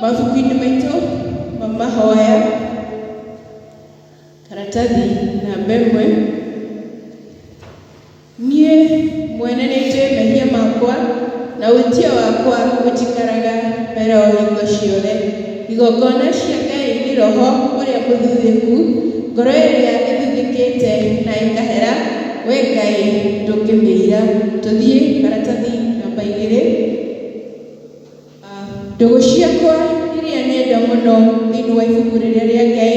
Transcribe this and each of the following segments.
mabuku-inĩ maitũ ma mahoya karatathi namba ĩmwe niĩ mwene nĩ njũĩ mehia makwa na wĩtia wakwa gũtikaraga mbere o hingo ciothe Igongona cia Ngai nĩ roho ũrĩa mũthuthĩku, ngoro ĩrĩa ĩthuthĩkĩte na ĩkahera, Wee Ngai ndũngĩmĩira. Tũthiĩ maratathi namba igĩrĩ. Ndũgũ ciakwa iria nyenda mũno thĩinĩ wa ibuku rĩrĩa rĩa Ngai,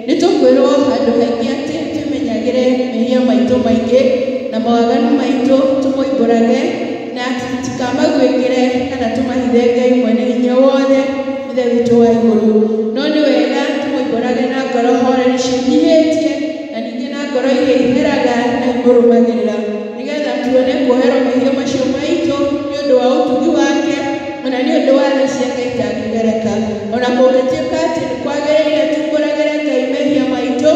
nĩ tũkwĩrwo handũ haingĩ atĩ twĩmenyagĩre mehia maitũ maingĩ na mawaganu maitũ tũmoimbũrage. Na tũtikamagwĩkĩre kana tũmahithe Ngai Mwene-Hinya-Wothe, Ithe witũ wa igũrũ. No nĩ wega tũmoimbũrage na ngoro horeri ciĩnyihĩtie, na ningĩ na ngoro iria iheraga na imũrũmagĩrĩra, nĩ getha tuone kuoherwo mehia macio maitũ nĩ ũndũ wa ũtugi wake, o na nĩ ũndũ wa tha ciake itangĩgereka. O na kũngĩtuĩka atĩ nĩ kwagĩrĩire tuumbũragĩre Ngai mehia maitũ,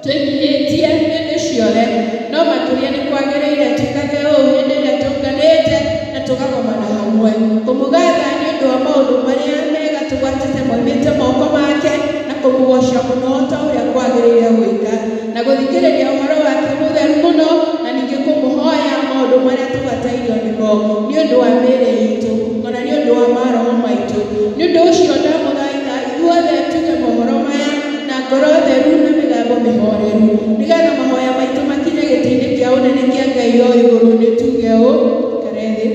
Tũingĩhĩtie hĩndĩ ciothe, no makĩria nĩ kwagĩrĩire twĩkage ũũ hĩndĩ ĩrĩa tũnganĩte na tũgagomana hamwe, kũmũgatha nĩ ũndũ wa maũndũ marĩa mega tũgwatĩte moimĩte moko make, na kũmũgooca mũno o ta ũrĩa kwagĩrĩire gwĩka, na gũthikĩrĩria ũhoro wake mũtheru mũno, na ningĩ kũmũhoya maũndũ marĩa tũgatairio nĩmo, nĩ ũndũ wa mĩĩrĩ iitũ, o na nĩ ũndũ wa maroho maitũ. Nĩ ũndũ ũcio ndamũthaitha. Ithuothe tuge mohoro maya na ngoro theru na mĩgambo mĩhooreru, nĩgeetha mahooya maitũ makinye gĩtĩ-inĩ kĩa ũnene kĩa Ngai o igũrũ, nĩ tuge ũũ, Ikare thĩ.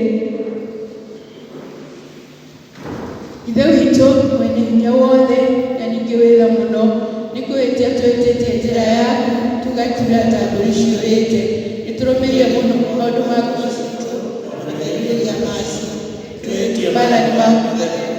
Ithe witũ mwene hinya wothe na ningĩ wĩ tha mũno, nĩ kwĩhĩtia twĩhĩtĩtie njĩra yaku, tũgakiura ta mbũri ciũrĩte. Nĩ tũrũmĩrĩire mũno maũndũ ma ngoro ciitũ, o na merirĩria macio. Twĩhĩtie maathani maku matheru.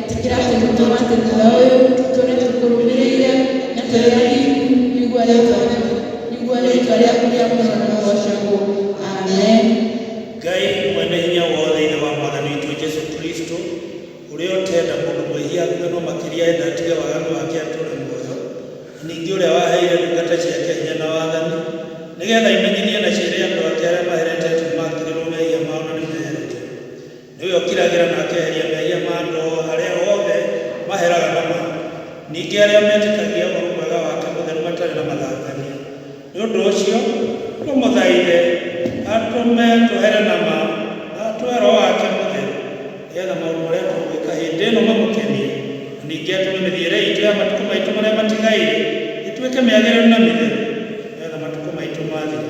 Etĩkĩra atĩ nĩ tũgũtĩkĩra ũyũ, tũtũũre tũkũrũmĩrĩire, na tũrĩ athingu, nĩguo rĩĩtwa rĩaku nĩguo rĩĩtwa rĩaku rĩa mũno rĩgoocagwo. Amen. Ngai mwene hinya wothe Ithe wa Mwathani witũ Jesu Kristo, ũrĩa ũtenda mũndũ mwĩhia akue no makĩria enda atige waganu wake atũũre muoyo, na ningĩ ũrĩa waheire ndungata ciake hinya na wathani, nĩgeetha imenyithie na ciĩre andũ ake arĩa maheretetwo nĩmakĩrĩrwo mehia mao na nĩmeheretwo. Nĩwe ũkiragĩra na akeheria mehia ma andũ arĩa othe maheraga na ma, ningĩ arĩa metĩkagia ũhoro mwega wake mũtheru matarĩ na mathangania. Nĩ ũndũ ũcio, tũmũthaithe atũme tũhere na ma, na atũhe roho wake mũtheru, nĩgetha maũndũ marĩa tũgwĩka hĩndĩ ĩno mamũkenie, na ningĩ atũme mĩthiĩre iitũ ya matukũ maitũ marĩa matigaire ĩtuĩke mĩagĩrĩru na mĩtheru, nĩgetha matukũ maitũ mathira.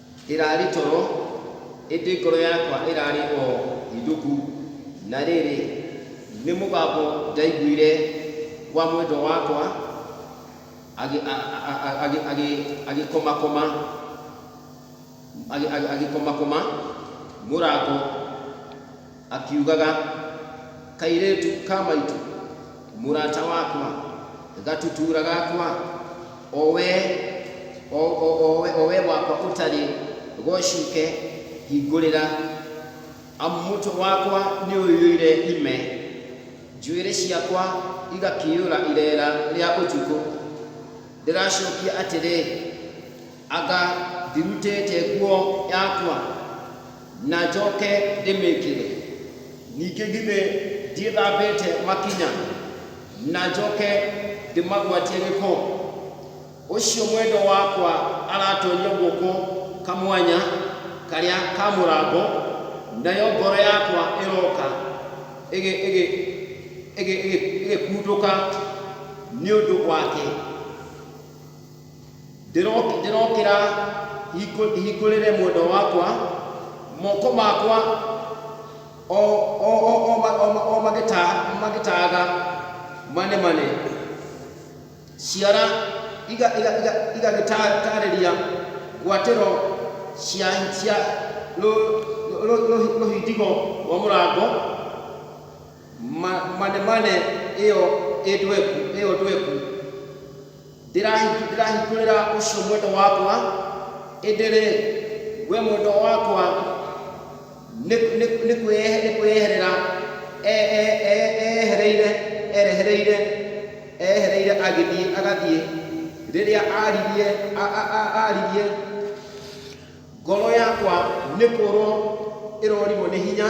Ĩraarĩ toro, ĩndĩ ngoro yakwa ĩraarĩ o hĩndũku. Na rĩrĩ, nĩ mũgambo ndaiguire wa mwendwa wakwa agĩkomakoma mũrango. Akiugaga, Kairĩtu ka maitũ, mũrata wakwa, gatutura gakwa, o we, o, o, o, o we wakwa ũtarĩ gocuke, hingũrĩra, amu mũtwe wakwa nĩũiyũire ime, njuĩrĩ ciakwa igakĩiyũra ireera rĩa ũtukũ. Ndĩracokia atĩrĩ. Anga ndirutĩte nguo yakwa na njoke ndĩmĩkĩre? Ningĩ githĩ ndiĩthambĩte makinya na njoke ndĩmagwatie gĩko? Ũcio mwendwa wakwa aratoonya guoko kamwanya karĩa ka mũrango, nayo ngoro yakwa ĩroka ĩgĩkundũka nĩ ũndũ wake. Ndĩrokĩra hingũrĩre mwendwa wakwa, moko makwa o magĩtaaga manemane, ciara igagĩtaarĩria ngwatĩro cia rũthingo rwa mũrango, manemane ĩyo ndweku. Ndĩrahingũrĩra ũcio mwendwa wakwa, ĩndĩ-rĩ, we mwendwa wakwa nĩ kwĩyeherera eyehereire, erehereire, eyehereire agĩthiĩ, agathiĩ, rĩrĩa aririe, aririe, ngoro yakwa nĩ kũũrwo ĩrorirwo nĩ hinya.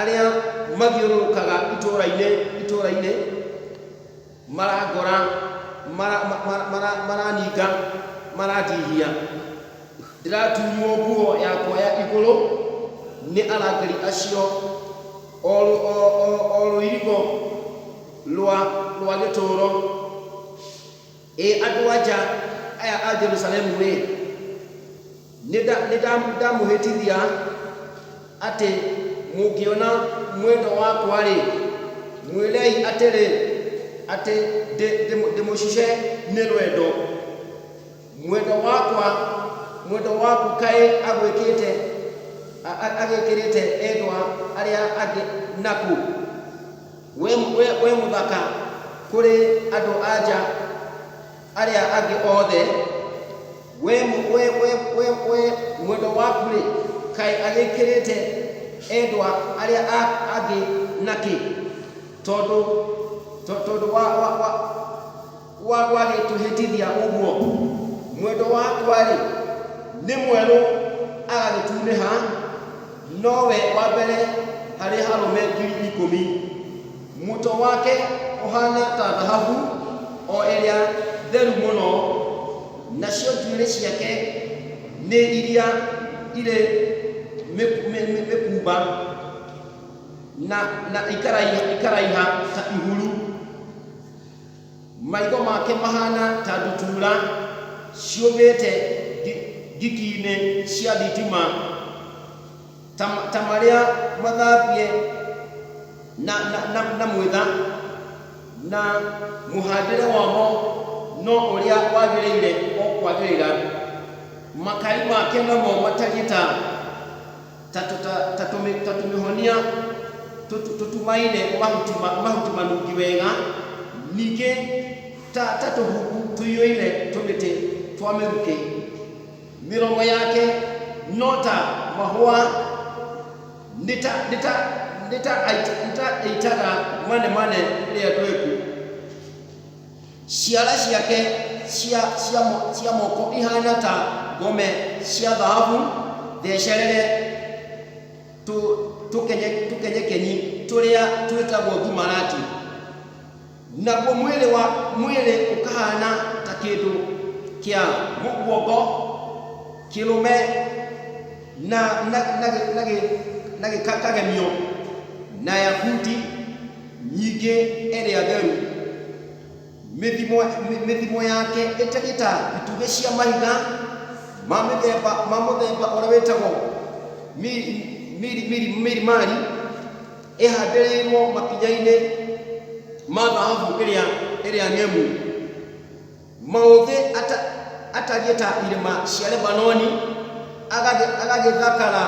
Arĩa mathiũrũrũkaga itũũra-inĩ itũũra-inĩ marangora, mara- ma- ma- mara- maraninga, marandihia. Ndĩratunywo nguo yakwa ya igũrũ nĩ arangĩri acio, o rũ- o- o- o rũirigo rwa rwa gĩtũũro. Ĩ andũ-a-nja aya a Jerusalemu-ĩ, nĩndamũhĩtithia atĩ mũngĩona mwendwa wakwa-rĩ, mwĩrei atĩrĩ, atĩ ndĩmũcuce nĩ rwendo. Mwendwa wakwa, mwendwa waku kaĩ agwĩkĩte, agĩkĩrĩte endwa arĩa angĩ nakũ? Wĩ mũthaka kũrĩ andũ-a-nja arĩa angĩ othe, we mwendwa waku-rĩ, kaĩ agĩkĩrĩte endwa arĩa angĩ na kĩ? Tondũ wa. Kũa gwagĩtũhĩtithia ũguo, mwendwa wakwa-rĩ, nĩ mwerũ agagĩtunĩha, no we wa mbere harĩ arũme ngiri ikũmi. Mũtwe wake ũhaana ta thahabu o ĩrĩa theru mũno, nacio njuĩrĩ ciake nĩ iria irĩ mĩkumba, na ikaraiha ta ihuru. Maitho make mahaana ta ndutura ciũmbĩte ngikinĩ cia thitima, ta marĩa mathambie na mwĩtha, na mũhandĩre wamo no ũrĩa wagĩrĩire o kwagĩrĩra. Makai make namo matariĩ ta. Ta, ta, ta, ta, tũmĩ, ta tũmĩhonia tũtu, tũtumaine mahuti, ma, mahuti manungi wega, ningĩ ta, ta tũhumbu tũiyũire tũmĩtĩ twa mĩrukĩ. Mĩromo yake no ta mahũa, nĩ ta, nĩ ta, nĩ ta, ait, nĩ ta aitaga manemane rĩrĩa ndweku. Ciara ciake cia, cia, mo- cia moko ihaana ta ngome cia thahabu thecerere tũ, tũkenye, tũkenyekenyi tũrĩa twĩtagwo thumarati, naguo mwĩrĩ wa, mwĩrĩ ũkahaana ta kĩndũ kĩa mũguongo kĩrũme na, na, na, gĩ- na, gĩ- na gĩkagemio na yakuti Nyingĩ ĩrĩa theru. Mĩthimo, mĩthimo yake ĩtariĩ ta itugĩ cia mahiga ma mĩthemba, ma mũthemba ũrĩa wĩtagwo miri, miri, miri, mirimari, ĩhandĩrĩirwo makinya-inĩ ma thahabu ĩrĩa, ĩrĩa ng'emu. Maũthĩ ata, atariĩ ta irĩma cia Lebanoni, agathĩ, agagĩthakara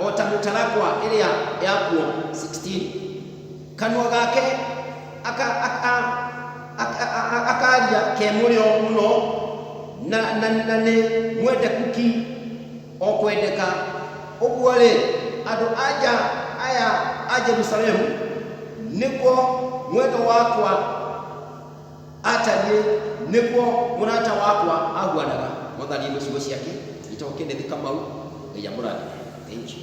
o ta mĩtarakwa ĩrĩa yakuo. 16 Kanua gake aka, aka, aka, aka, akaria ke mũrĩo mũno, na, na, na nĩ mwendeku ki o kwendeka. Ũguo-rĩ, andũ a nja aya a Jerusalemu nĩguo mwena wakwa. Aatariĩ, nĩguo mũrata wakwa ahuanaga. Mwathani nĩ ciugo ciake gĩtoo kĩnĩthĩ kamau ngai amũrathime thank you.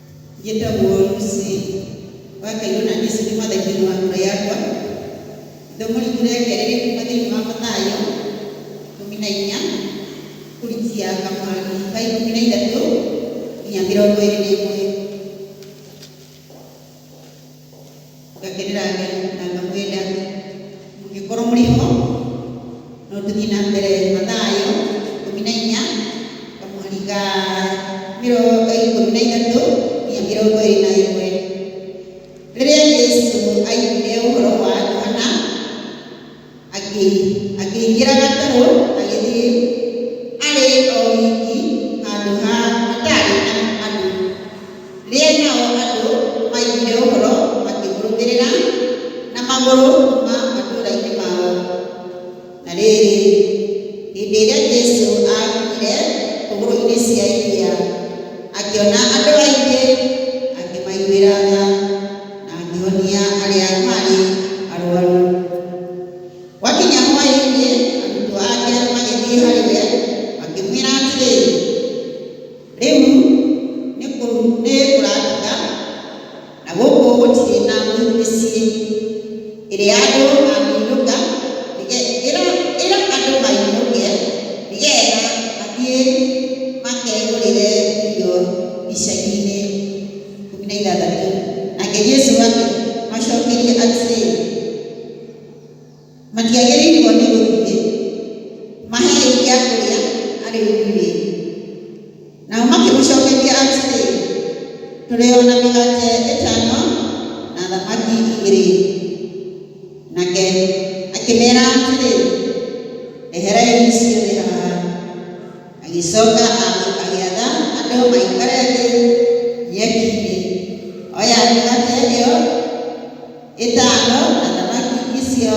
Njĩtagwo Lucy Wakairũ na niĩ ũcio nĩ mwandĩki wa kura yakwa. Ithomo ritũ rĩa kerĩ rĩkuuma thĩinĩ wa Mathayo ikũmi na inya kũrikia kamweri ka ikũmi na ithatũ nginya mĩrongo ĩrĩ na ĩmwe. ngakĩrĩra Ngai na ngamwĩra mũngĩkorwo mũrĩ ho no tũthiĩ na mbere na thayũ ikũmi na inya ngamũhariga mĩrongo ikũmi na ithatũ nginya mĩrongo ĩrĩ na ĩmwe rĩrĩa Jesu aiguire ũhoro wa Johana Akĩingĩra gatarũ agĩthiĩ arĩ o wiki handũ ha hataarĩ andũ. Rĩrĩa nao andũ maiguire ũhoro makĩmũrũmĩrĩra na magũrũ kuuma matũũra-inĩ mao. Na rĩrĩ, hĩndĩ ĩrĩa Jesu aakinyire hũgũrũrũ-inĩ cia iria, akĩona andũ aingĩ, akĩmaiguĩra tha. angĩhonia arĩa maarĩ arwaru. Gwakinya hwaĩ-inĩ, arutwo ake magĩthiĩ harĩ we makĩmwĩra atĩrĩ, Rĩu nĩ kũratuka, na gũkũ gũtirĩ na mĩciĩ ĩrĩa andũ mangĩinũka, ĩra andũ mainũke nĩgetha mathiĩ makegũrĩre irio icagi-inĩ. ikũmi na ithathatũ. Nake Jesu akĩmacookeria atĩrĩ, Matiagĩrĩirwo nĩ gũthiĩ, maheei gĩa kũrĩa arĩ inyuĩ. Nao makĩmũcookeria atĩrĩ, Tũrĩ o na mĩgate ĩtano na thamaki igĩrĩ. Nake akĩmeera atĩrĩ, Ndeherai ciothe haha. Agĩcoka agĩatha andũ maikare thĩ nyeki-inĩ. Oya mĩgate ĩyo ĩtano na thamaki icio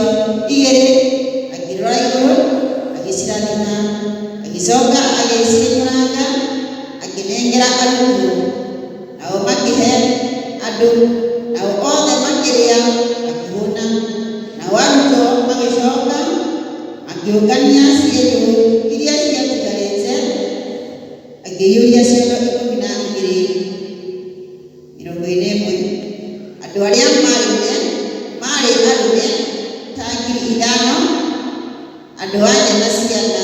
igĩrĩ, akĩrora igũrũ, agĩcirathima. Agĩcoka agĩciĩnyũranga, akĩnengera arutwo. Nao makĩhe andũ, nao othe makĩrĩa makĩhũna. Nao arutwo magĩcoka makĩũngania cienyũ iria ciatigarĩte, makĩiyũria ciondo ikũmi na igĩrĩ. Mĩrongo-inĩ na ĩmwe, andũ arĩa maarĩire maarĩ arũme ta ngiri ithano, andũ-a-nja na ciana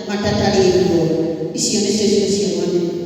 matatarĩtwo. Icio nĩcio ciũngano nene.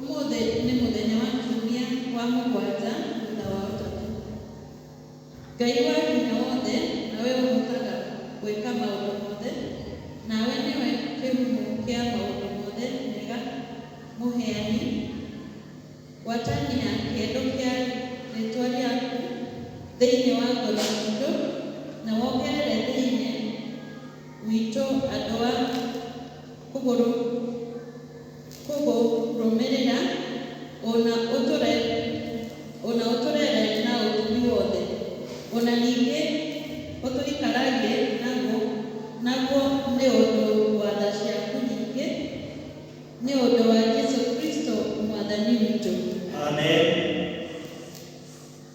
Ũmũthĩ nĩ mũthenya wa kiumia wa mũgwanja thutha wa ũtatũ. Ngai wa hinya wothe nawe ũhotaga gwĩka maũndũ mothe, nawe nĩwe kĩhumo kĩa maũndũ mothe mega, mũheani, gwatania kĩendo kĩa rĩtwa rĩaku thĩinĩ wa ngoro citũ, na wongerere thĩinĩ witũ andũ a kũgũrũ. kũgũrũmĩrĩra, o na ũtũre, o na ũtũrere na ũtugi wothe, o na ningĩ ũtũikaragie naguo, naguo nĩ ũndũ wa tha ciaku nyingĩ, nĩ ũndũ wa Jesu Kristo Mwathani witũ. Amen.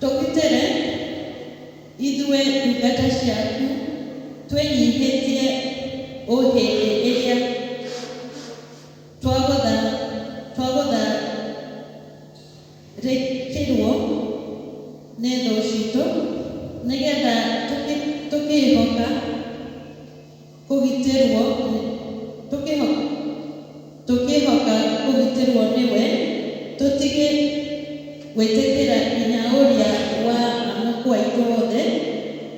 Tũgitĩre, ithuĩ ndungata ciaku, twĩnyihĩtie o hĩndĩ ĩrĩa twagũtha twagũtharĩkĩrũo nĩ thũ citũ, nĩgetha tũkĩĩhoka. kũgitĩrũo tũkĩĩhoka kũgitĩrũo nĩwe, tũtige gwĩtĩkĩra hinya ũrĩa wa mũkũ aitũ wothe,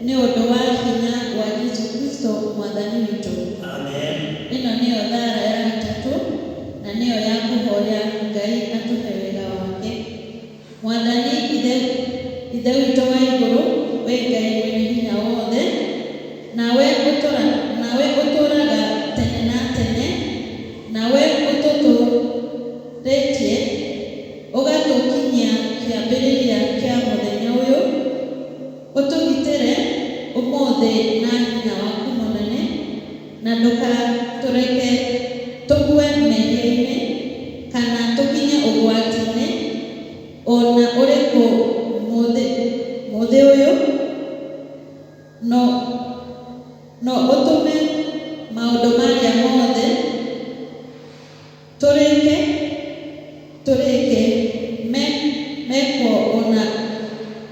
nĩ ũndũ wa hinya wa Jesu Kristo Mwathani witũ. Amen. Ĩno nĩyo thara ya gatatũ, na nĩyo ya kũhoya Ngai atũhe wega wake. Mwathani Ithe, Ithe witũ wa igũrũ, wee Ngai Mwene-Hinya-Wothe, nawe ũtũra, nawe ũtũũraga tene na tene, nawe ũtũtũũrĩtie ũgatũkinyia kĩambĩrĩria kĩa mũthenya ũyũ, ũtũgitĩre ũmũthĩ na hinya waku mũnene. Na ndũgatũreke tũgwe mehia-inĩ, kana tũkinye ũgwati-inĩ o na ũrĩkũ mũthĩ mũthĩ ũyũ, no no ũtũme maũndũ marĩa mothe. Tũrĩke, tũrĩke, me, mekwo o na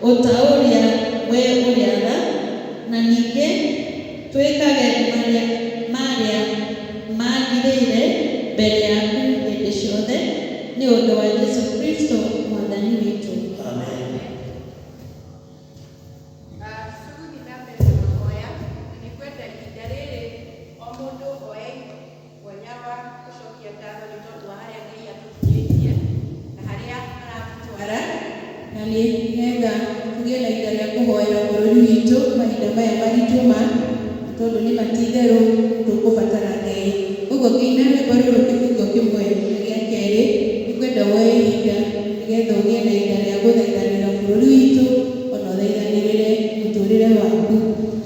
o ta ũrĩa wee ũrĩaga, na ningĩ twĩkage marĩa, marĩa maagĩrĩire mbere yaku hĩndĩ ciothe, nĩ ũndũ wa Jesu Kristo Mwathani witũ. Amen. Sugudi na Mary Mahoya, na nĩ ngwenda ihinda rĩrĩ o mũndũ oe. Mwanya wa gũcokia ngatho nĩ tondũ wa harĩa Ngai atũkinyĩtie na harĩa aratũtwara. Na nĩ wega tũgĩe na ihinda rĩa kũhoera bũrũri witũ mahinda maya maritũ ma, nĩ tondũ nĩ ma ti itherũ tũkũbatara Ngai. Kwoguo ngĩina rwĩmbo rũrũ kĩbungo kĩmwe na gĩa kerĩ, nĩ ngwenda woe ihinda nĩ getha ũgĩe na ihinda rĩa gũthaithanĩra bũrũri witũ o na ũthaithanĩrĩre mũtũrĩre waku.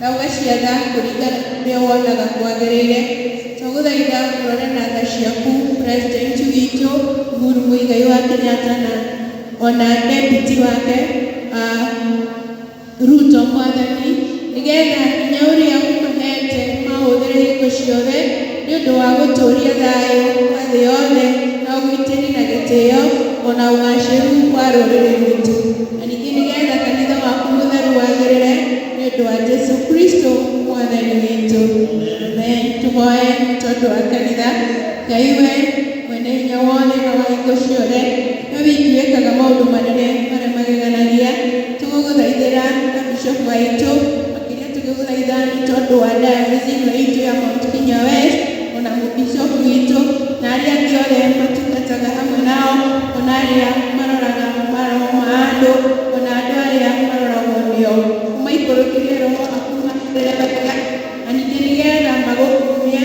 na ũgaciatha kũringana na ũrĩa wonaga kwagĩrĩire. Twagũthaitha ũrore na tha ciaku President witũ Uhuru Muigai wa Kenyatta na ona deputy wake uh, Ruto mwathani nĩgetha hinya ũrĩa ũmũhete maũhũthĩre hingo ciothe nĩ ũndũ wa gũtũũria thayũ wa thĩ yothe na ũgitĩri na gĩtĩo ona ũgacĩru wa rũrĩrĩ rwitũ na ningĩ nĩgetha kanitha waku mũtheru wagĩrĩre nĩ ũndũ wa Jesu Kristo mwathani witũ amen tũhoe tondũ wa kanitha Ngai we mwene hinya wothe na wa hingo ciothe We wiki wĩkaga maũndũ manene marĩa mageganagia. Tũgũgũthaithĩra ta bishop witũ, makĩria tũgĩgũthaitha nĩ tondũ wa diocese ĩno itũ ya Mount Kenya West, ona bishop witũ na arĩa angĩ othe matungataga hamwe nao, ona arĩa maroraga maroho ma andũ, ona andũ arĩa maroragwo nĩo. Ũmaikũrũkĩrie roho waku ũmahingũrĩre mawĩra, na ningĩ nĩgetha magũkumie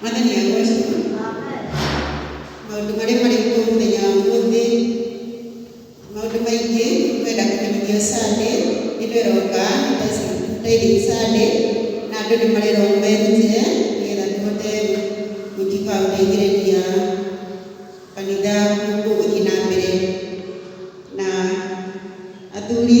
mwathani agocwo maũndũ marĩa marĩ kuo mũthenya wa ũmũthĩ maũndũ maingĩ kwenda kũmenyithio sande ĩno ĩroka tithing sande na andũ nĩ marerwo merutĩre nĩgetha tũhote gũtuĩka wa gũteithĩrĩria kanitha gũkũ ũthiĩ na mbere na athuri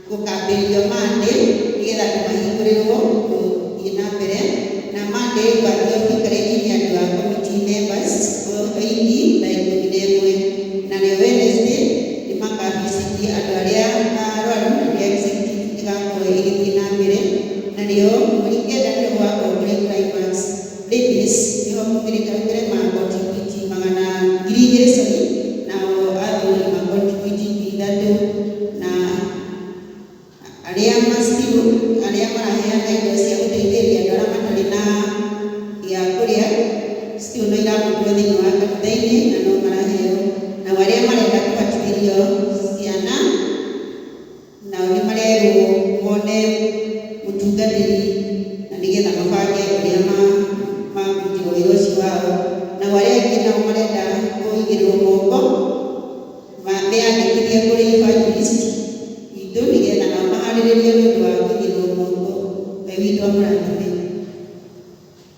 gũkambĩrĩrio Monday nĩgetha andũ mahingũrĩrwo gũthiĩ na mbere, na Monday ngwambia ũtikarĩri nĩ andũ a committee members oindi ta ikũmi na ĩmwe, narĩo Wednesday nĩ maka visit andũ arĩa arwaru na nĩo executive igakorwo igĩthiĩ na mbere, narĩo mweri kenda nĩruo gũgakorwo kũrĩ climax. Davies nĩho maumĩrĩte aingĩre ma kontribuiti magana ngiri igĩrĩ sorry nao athuri ma kontribuiti ngiri ithatũ na arĩa ma still arĩa maraheana indo cia gũteithĩrĩria andũ arĩa matarĩ na gĩa kũrĩa still no iramũkĩrwo thĩinĩ wa kanitha-inĩ na no maraheo, nao arĩa marenda kũbatithĩrio ciana Nao nĩmarerwo mone mũtungatĩri na nĩgetha mabange ũrĩa makũrutirwo wĩra ũcio wao. Nao arĩa angĩ nao marenda kũigĩrĩrwo moko meyandĩkithie kũrĩ Evangelist witũ nĩgetha nao maharĩrĩrio nĩũndũ wa kũigĩrĩrwo moko we witũ amũrathime.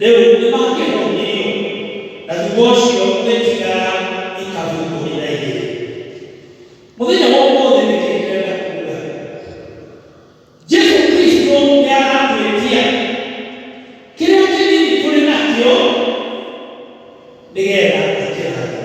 rĩu nĩ mangĩakumirio na thutha ũcio rĩtigara ikahingũrĩra igĩrĩ mũthenya wa ũmũthĩ nĩ kĩĩ ndĩrenda kuga jesu kristo nĩ aratwĩtia kĩrĩa kĩnini tũrĩ nakĩo nĩgetha akĩrathime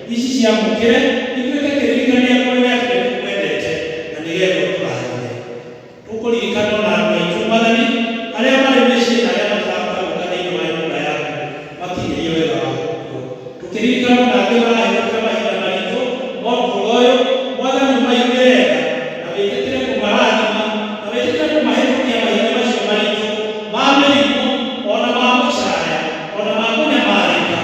ici ciamũkĩre itwĩke kĩririkania kũrĩ we atĩ nĩtũkwendete na nĩgetha ũtũrathime. Tũkũririkana o na andũ aitũ, Mwathani, arĩa marĩ mĩciĩ na arĩa matarahota gũka thĩinĩ wa nyũmba yaku makinyĩrie wega waku kuo. Tũkĩririkana o na angĩ marahĩtũkĩra mahinda maritũ ma ũtũũro ũyũ, Mwathani, ũmaiguĩre tha na wĩtĩkĩre kũmarathima na wĩtĩkĩre kũmahĩtũkia mahinda macio maritũ ma mĩrimũ, o na ma gũcaya, o na ma kũnyamarĩka,